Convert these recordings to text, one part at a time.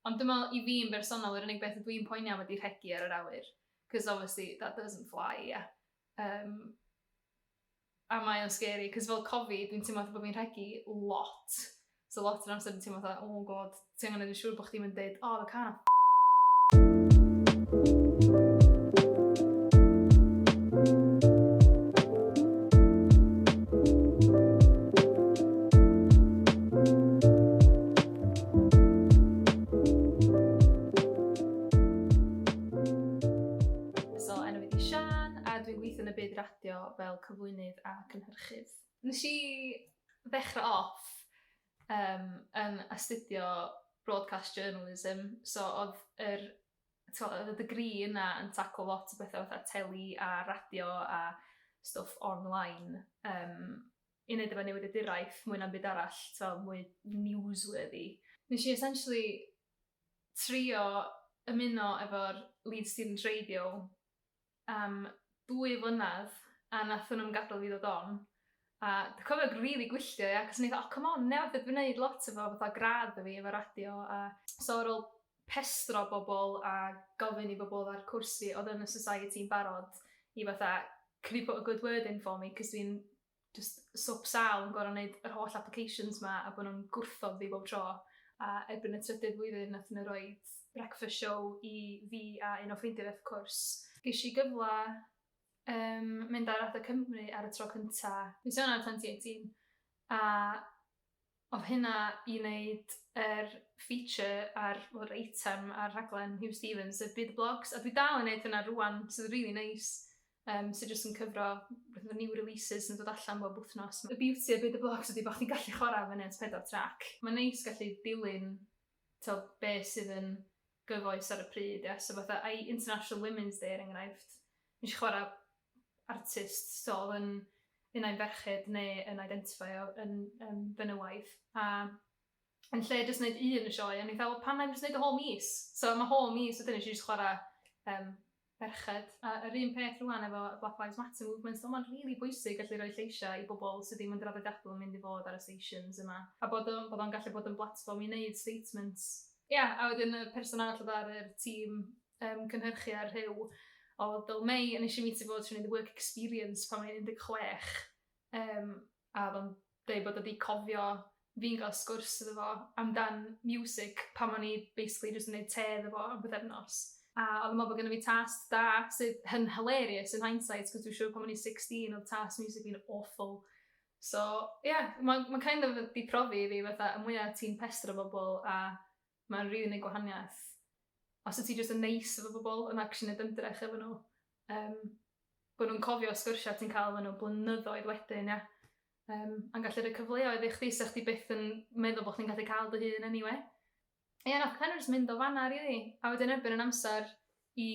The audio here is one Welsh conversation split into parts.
Ond dyma i fi yn bersonol yr unig beth ydw i'n poeni am ydi rhegi ar yr awyr, 'cos obviously that doesn't fly, ie. Yym, a mae o'n scary, 'cos fel cofi, dwi'n teimlo fatha bod fi'n rhegi lot, so lot o'r amser dwi'n teimlo fatha, oh my god, ti angen neud yn siŵr bod chdi'm yn deud, oh the car 'na So, enw fi di Sian, a dwi'n gweithio yn y byd radio fel cyflwynydd a cynhyrchydd. Nes i ddechrau off um, yn astudio broadcast journalism, so oedd yr oedd y dygri yna yn taclo lot o bethau fatha teli a radio a stwff online. Um, i neud efo newyddiaduraeth mwy na'm byd arall, t'o' mwy newsworthy. Nesh i essentially trio ymuno efo'r Leeds Students Radio am dwy flynadd a nathon nw'm gadal fi ddod on. A dwi cofio g- rili gwylltio ia 'c'os o'n i fatha o come on ia dwi 'di neud lot efo fatha gradd fi efo radio a so ar ôl pestro bobol a gofyn i bobol ar cwrs fi odd yn y society yn barod i fatha can you put a good word in for me 'c'os dwi'n just swp sal yn gorau wneud yr holl applications ma a bod nhw'n gwrthod fi bob tro. A erbyn y trydydd flwyddyn nath nhw roi breakfast show i fi a un o ffrindiau wrth cwrs. Ges i gyfle um, mynd ar Adeg Cymru ar y tro cynta. Mis Ionawr 2018 a Oedd hynna i wneud yr feature a'r, wel yr eitem ar rhaglen Huw Stephens, y Byd y Blogs, a dwi dal yn wneud hynna rwan, sydd rili neis, um, sydd jyst yn cyfro rhywbeth o new releases sy'n dod allan bob wythnos. Y beauty o Byd y Blogs ydy bod chdi'n gallu chwarae fyny at pedair trac. Mae'n neis gallu dilyn to, be sydd yn gyfoes ar y pryd, ia, so fatha, ai International Women's Day er enghraifft, nes i chwarae artist stôl yn un ai ferched neu yn identifeio yn um, fenywaidd. A yn lle jyst wneud un y sioe, o'n i'n fel, pan mae'n jyst wneud y whole mis. So mae whole mis, wedyn eisiau jyst chwarae um, ferched. A yr un peth rwan efo Black Lives Matter movement, so mae'n rili really bwysig gallu rhoi lleisiau i bobl sydd ddim yn draddodiadol yn mynd i fod ar y stations yma. A bod o'n, bod o'n gallu bod yn blatfform i wneud statements. Ia, yeah, a wedyn y person arall oedd ar y tîm um, cynhyrchu ar rhyw o Bill May, a nes i meet fod trwy'n work experience pan mae'n 16, um, a o'n dweud bod wedi cofio fi'n gael sgwrs iddo fo amdan music pan o'n i basically jyst yn gwneud te iddo fo am byddefnos. A oedd yn meddwl bod gen i fi task da, sydd yn hilarious yn hindsight, cos dwi'n siŵr pan o'n i 16 oedd task music fi'n awful. So, ie, yeah, mae'n ma kind of di profi i fi fatha, y mwyaf ti'n pestro bobl a Mae'n rili neud gwahaniaeth. Os wyt ti jyst yn neis efo bobl, yn actually neud ymdrech efo nhw, yym, bo' nhw'n cofio sgyrsia ti'n cael efo nhw blynyddoedd wedyn, ia? Yym, a'n gallu rhoi cyfleoedd i chdi 'sa chdi byth yn meddwl bo' chdi'n gallu cael dy hun eniwe. Ia, nath kind of jyst mynd o fan'na rili. A wedyn erbyn yn amser i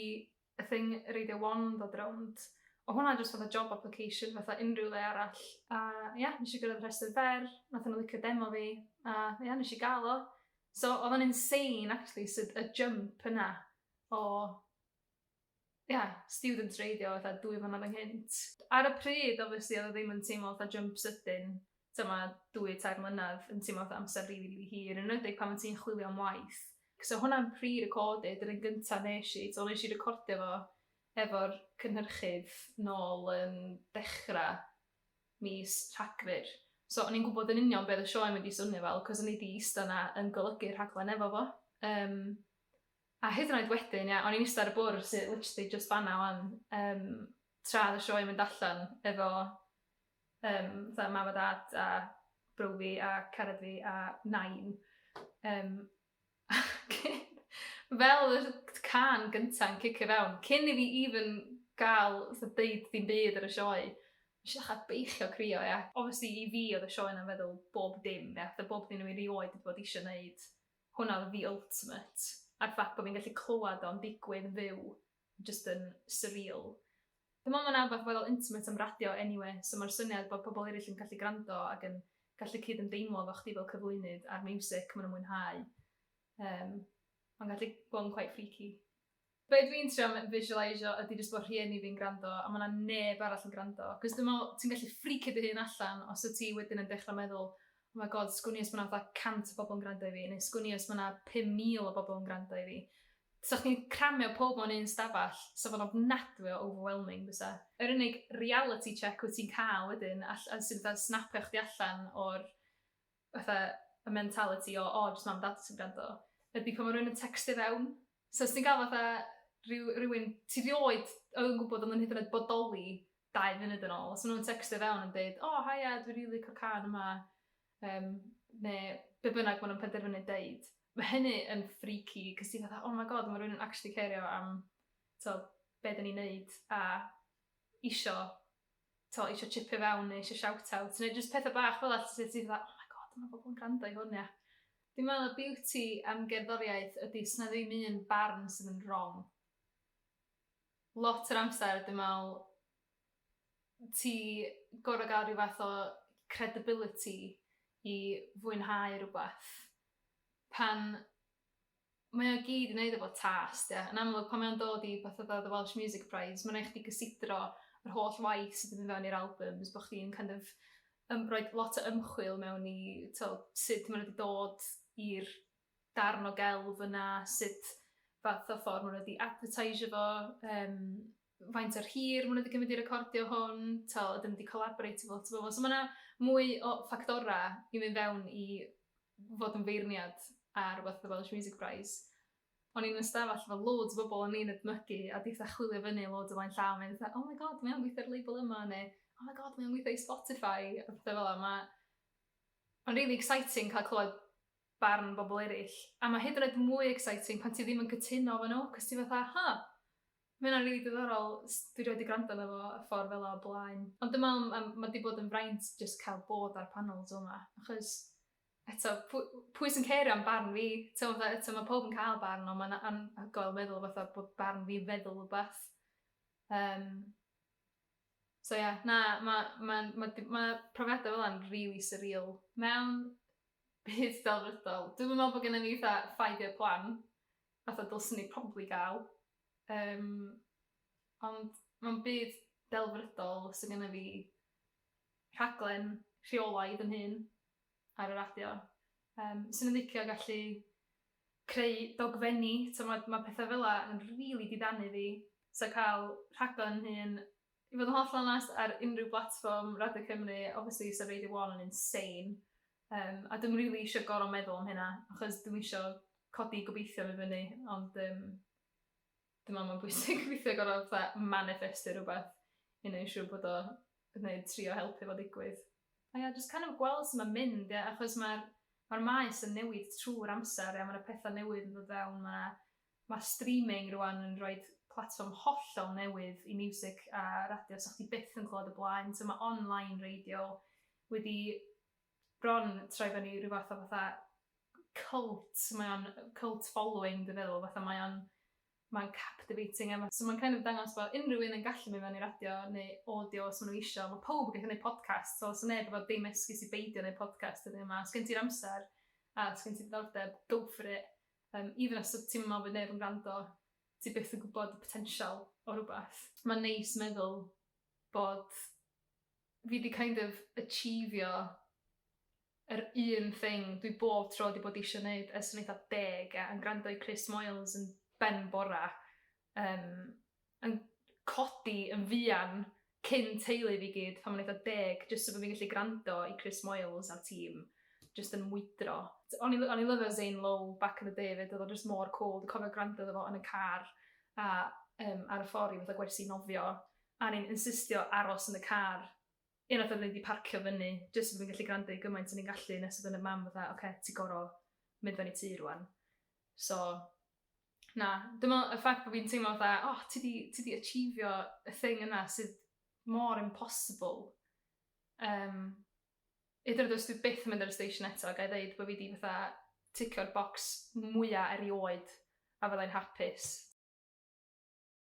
a thing radio one ddod rownd. O hwnna jyst fatha job application fatha unrhyw le arall. A ie, yeah, nes i gyrraedd rhestr fer, nath nhw licio demo fi, a ie, yeah, nes i gael o. So oedd o'n insane actually sydd y jump yna o ie, yeah, student radio fatha dwy flynadd ynghynt. Ar y pryd, obviously, oedd o ddim yn teimlo fatha jump sydyn, dyma dwy, tair mlynedd yn teimlo fatha amser rili, rili hir, yn enwedig pan ti'n chwilio am waith. So hwnna'n pre-recorded, yr un gynta nes i, so nes i recordio fo efo'r cynhyrchydd nôl yn dechra mis Rhagfyr. So o'n i'n gwybod yn union beth y sioe mynd i swnio fel, cos o'n i di ista na yn golygu rhaglen efo fo. Um, a hyd yn oed wedyn, ia, o'n i'n ista ar y bwrdd sy'n literally just fanna wan, um, tra y sioe mynd allan efo Yym, fatha mam a dad a brow fi a cared fi a nain. Yym, ac fel yr can gynta'n cicio fewn, cyn i fi even gael fatha deud dim byd ar y sioe, nes i ddechrau beichio crio, ia. Obviously i fi oedd y sioe 'na'n feddwl bob dim, ia, fatha bob dim o'n i erioed wedi bod isio wneud, hwnna oedd the ultimate. A'r ffaith bod fi'n gallu clywed o'n digwydd yn fyw jyst yn surreal. Dwi'n meddwl mae 'na rywbeth fel intimate am radio anyway, so mae'r syniad bod pobl eraill yn gallu gwrando ac yn gallu cyd-ymdeimlo efo chdi fel cyflwynydd a'r miwsig maen nhw'n mwynhau, um, mae'n gallu bod yn quite freaky. Be dwi'n trio visualisio ydy jyst bod rhieni fi'n gwrando a mae yna neb arall yn gwrando. Cos dwi'n meddwl, ti'n gallu ffricio dy hun allan os y ti wedyn yn dechrau meddwl, oh my god, sgwn i os mae yna 100 o bobl yn gwrando i fi, neu sgwn i os mae yna 5,000 o bobl yn gwrando i fi. 'Sa chdi'n cramio pawb mewn un stafell, 'sa fo'n ofnadwy o overwhelming bysa. Yr unig reality check wyt ti'n cael wedyn all- a sy'n fatha snapio chdi allan o'r fatha y mentality o o jyst mam dad sy'n grando ydi pan ma' rywun yn tecstio fewn. So os ti'n cael fatha rhyw rywun ti rioed oedd yn gwybod oedd yn hyd yn oed bodoli dau funud yn ôl, os ma' nhw'n tecstio fewn yn deud, 'O haia dwi rili cael cân yma', um, neu be bynnag maen nhw'n penderfynu deud, mae hynny yn freaky, cys ti'n fatha, oh my god, mae rhywun yn actually cerio am to, be dyn ni'n neud, a isio, to, isio chipio fewn, neu isio shout-out, neu jyst pethau bach fel at sydd ti'n fatha, oh my god, mae bobl yn gwrando i hwn, ia. Dwi'n meddwl y beauty am gerddoriaeth ydy sy'n ddim un barn sydd yn wrong. Lot yr amser, dwi'n meddwl, ti gorfod gael rhyw fath o credibility i fwynhau rhywbeth. Pan mae o gyd i wneud efo tâs, de. Yn amlwg, pan mae'n dod i beth oedd The Welsh Music Prize, mae'n rhaid chdi gysidro yr holl waith sydd wedi mynd fewn i'r albums, bod chdi'n kind of um, rhoi lot o ymchwil mewn i to, sut maen nhw wedi dod i'r darn o gelf yna, sut fath o ffordd maen nhw wedi advertisio fo, um, faint o'r hir maen nhw wedi cymryd i recordio hwn, ta ydyn nhw wedi collaboreitio efo lot o bobl. So mae yna mwy o ffactorau i mynd fewn i fod yn feirniad ar rhywbeth The Welsh Music Prize. O'n i'n ystafell efo loads o bobl o'n i'n edmygu a di fatha chwilio fyny loads o flaen llaw a mynd fatha oh my god mae o'n gweithio ar label yma neu oh my god mae o'n gweithio i Spotify a pethau fel yna. Mae... Mae'n really exciting cael clywed barn bobl eraill. A mae hyd yn oed mwy exciting pan ti ddim yn cytuno efo nhw, cos ti fatha, ha, Mae hynna'n rili diddorol. Dwi rioed 'di gwrando arno fo y ffordd fela o blaen. Ond dwi me'wl ma' ma' 'di bod yn fraint jyst cael bod ar panel t'mo' 'ma achos eto pw- pwy sy'n cerio am barn fi? T'mo' fatha eto ma' powb yn ca'l barn on' ma'n anhygoel meddwl fatha bod barn fi'n feddwl wbath. Yym. So ia na ma' ma'n ma' d- ma' profiada fel 'a'n rili swreal. Mewn byd delfrydol dwi'm yn me'wl bo' gennon ni fatha five year plan fatha dylswn ni probably ga'l Yym, ond mewn byd delfrydol 'sa gynna fi rhaglen rheolaidd yn hun ar y radio. Yym, 'swn i'n licio gallu creu dogfenni, t'mod ma' petha' fela yn rili diddanu fi, so ca'l rhaglen 'yn hun I fod yn hollol onest, ar unrhyw blatfform, Radio Cymru, obviously 'sa Radio One yn insane, yym a dwi'm rili isio gorfod meddwl am hynna, achos dwi'm isio codi gobeithion i fyny, ond yym dwi'n meddwl mae'n bwysig weithiau gorfod fatha maniffestio rhywbeth i wneud siŵr bod o, neu trio helpu fo ddigwydd. A ia, jyst kind of gweld sut mae'n mynd ia, achos mae'r mae'r maes yn newid trwy'r amser ia, mae 'na petha' newydd yn dod fewn, mae 'na Mae streaming rwan yn rhoi platfform hollol newydd i miwsig a radio 'sa chdi byth yn clywed o blaen, so mae online radio wedi bron troi fyny rhyw fath o fatha cult, mae o'n cult following dwi'n feddwl, fatha mae o'n mae'n captivating a ma' so mae'n kind of dangos bod unrhyw un yn gallu mynd fewn i radio neu audio os maen nhw isio, mae pawb yn gallu gwneud podcast, so does neb efo dim esgus i beidio wneud podcast heddiw 'ma, os gen ti'r amser a os gen ti diddordeb, go for it. Yym even os ti'n meddwl bod neb yn gwrando, ti byth yn gwybod y potensial o rywbeth. Mae'n neis meddwl bod fi di kind of achievio yr un thing dwi bob tro di bod eisiau neud ers o'n eitha deg a yn gwrando i Chris Moyles yn ben bora Yym, yn codi yn fuan cyn teulu fi gyd pan o'n eitha deg, jyst so bod fi'n gallu gwrando i Chris Moyles a'r tîm jyst yn mwydro. O'n i'n o'n i'n lyfio Zane Lowe back in the day 'fyd, oedd o jyst mor cwl. Dwi'n cofio gwrando iddo fo yn y car a yym ar y ffordd i fatha gwersi nofio, a o'n i'n insistio aros yn y car unwaith oedden ni 'di parcio fyny, jyst so bod fi'n gallu gwrando i gymaint o'n i'n gallu, nes oedd fy mam fatha, 'ocê, ti gorfod mynd â ni tŷ rŵan'. So, Na, dim ond y ffaith bod fi'n teimlo fatha, oh, ti di, ti di achievio y thing yna sydd mor impossible. Um, Ydyn nhw dwi byth yn mynd ar y station eto, gael ddeud bod fi di fatha ticio'r box mwyaf erioed a fyddai'n hapus.